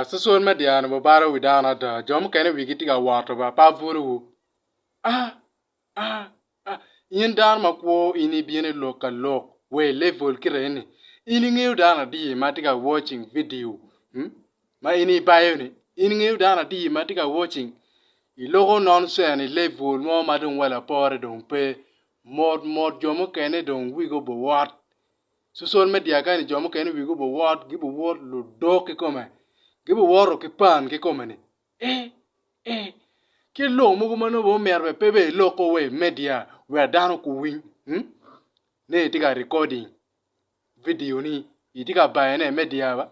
Cwecwe me dyang-ni obalo wi dano ada, jo mukene wigi tye ka wot wa, pe abwolowu. In dano makwo in ibino i lok ka lok wa i level kireni, in ingeyo dano adi ma tye ka watching vidio ma in ibayo-ni? In ingeyo dano adi ma tye ka watching? Iloko nonsense i level mo ma dong wa lapore dong pe, mot mot jo mukene dong wigi obowot. Cusol me dyakani jo mukene wigi obuwot, gibuwot ludok kikome, gibuwoto ki pan kikome ni, E! E! Kit lok mogo ma nongo omyero bene pe bene iloko wa i media wek dano guwiny hmm? ni itye ka recording vidio ni, itye ka bayone i media ba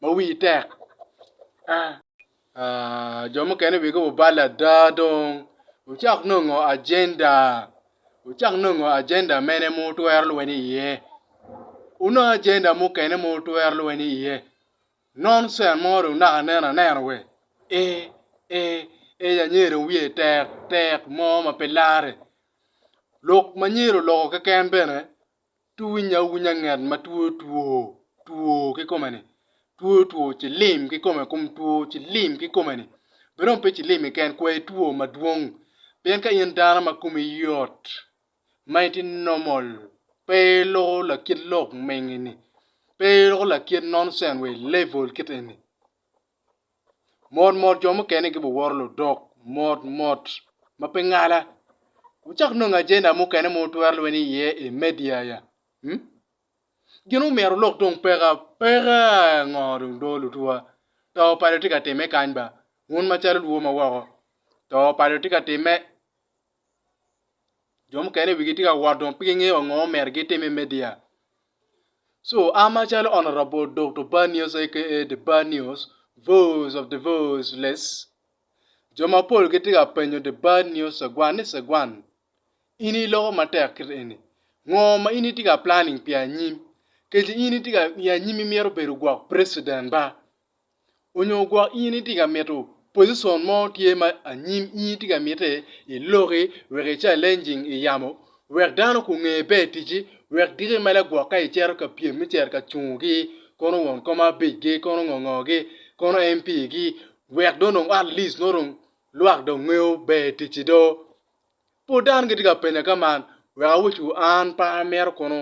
ma wiyi tek. Ah! Jo mukene bikobo bal ada dong. Wucak nongo ajenda. Wucak nongo ajenda mene ma wutwero lweny iye. Wunong ajenda mukene ma wutwero lweny iye. Nonsen mo dong naka neno anena we. Ee, ee, ee anyira dong wiye tek tek mo ma pe larre. Lok ma anyira oloko keken bene Twiny awunya ngat ma two two two kikome ni two two cilim kikome kom two cilim kikome ni bene dong pe cilim keken kwai two madwong pien ka in dano ma komi yot ma itye normal pe iloko lakit lok menge ni pe iloko lakit nonsen wa i level kit eni. Mot mot jo mukene gibiworo ludok mot mot ma pe ngala. Wucak nongo ajenda mukene ma wutwero lweny iye i media ya. Hmm? Gin omyero olok dong peka peka ngo dong do lutwa. To pado tye ka timme kany ba. Wun macalo lwo ma woko. To pado tye ka timme jo mukene wigi tye ka wot dong pe gingeyo wa ngo myero gitim i media so an macalo honorable Dokto Bar News aka The Bar News, Voice of the Voiceless jo mapol gitye ka penyo The Bar News Cegwan ni Cegwan in iloko matek kit eni ngo ma in itye ka planning pi anyim kec in itye ka i anyim imito bedo gwok president ba? onyo gwok in itye ka mito position mo tye ma anyim in itye ka mite i loki wek i challenging i yamo wek dano ku nge pe i ticci wek giki mele gwok ka i cito ka pyem me cito ka cungo gi kono won kom abic gi kono ngo ngo gi kono MP gi wek dong nong at least nongo dong lwak dong ngeyo ber i ticci do pud dano gitye ka penya ka man wek awucu an pe amito kono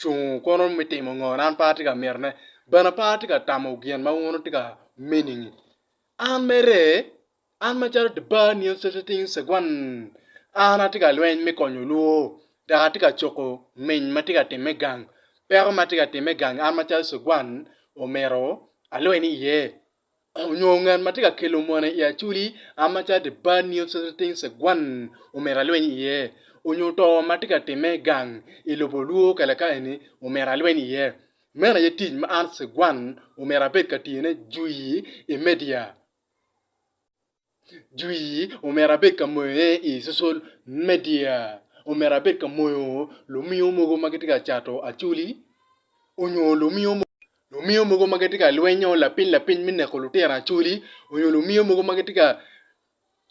cung kono me timo ngo na an pe atye ka mitone, bene pe atye ka tamo gin ma wun wutye ka meaning-ngi. An mere, an macalo the bar neon setting segwan, an atye ka lweny me konyo olwo dok atye ka coko miny ma tye ka timme gang. Peko ma tye ka timme gang an macalo segwan omyero alweny iye. onyo ngat ma tye ka kelo mone i aculi a macalo the bad news society thinks a gwan omito alweny iye, onyo to ma tye ka timme gang i lobo lwor kale ka eni omito alweny iye. Meno aye tic ma an Sir Gwan omito abed ka tiyone jui i media. Jwi, Omyero abed ka moyone i cocol media, omyero abed ka moyo lumiyo mogo ma gitye ka cato acoli onyo lumiyo mogo ma gitye ka lwenyo lapiny lapiny me neko lutino acoli onyo lumiyo mogo ma gitye ka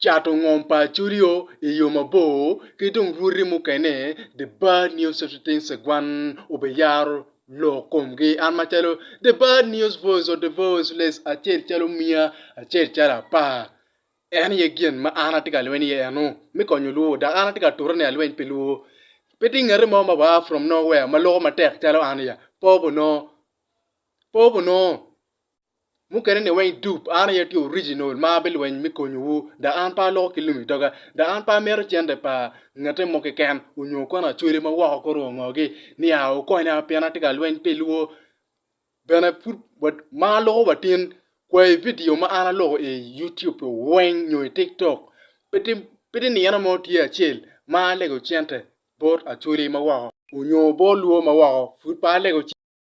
cato ngom pa acolio i yo mabor ki dong rwoti mukene the bad news of the things that one obiyaro lok komgi. An macalo The Bad News Voice or The Voiceless acel calo miya acel calo apar. En aye gin ma an atye ka lweny iye eno me konyo luwo dok an atye ka tute ni alweny pi luwo. Pe tye ngati mo ma waa from nowhere ma loko matek calo an ya. Popo no. Popo no. Mukene ni weng dup an aye tye original ma abilweny me konyo wu dok an pe aloko ki lumi doga dok an pe amito cente pa ngate mo keken onyo kwena acwele ma woko kor o ngo gi ni aa wukonya pien atye ka lweny pi lwo bene pud ma aloko wa tin kwayi video ma an aloko i YouTube weng nyo i tiktok pe ti nino mo tye acel ma alego cente bot acwele ma woko onyo bot lwo ma woko pud pe alego cente.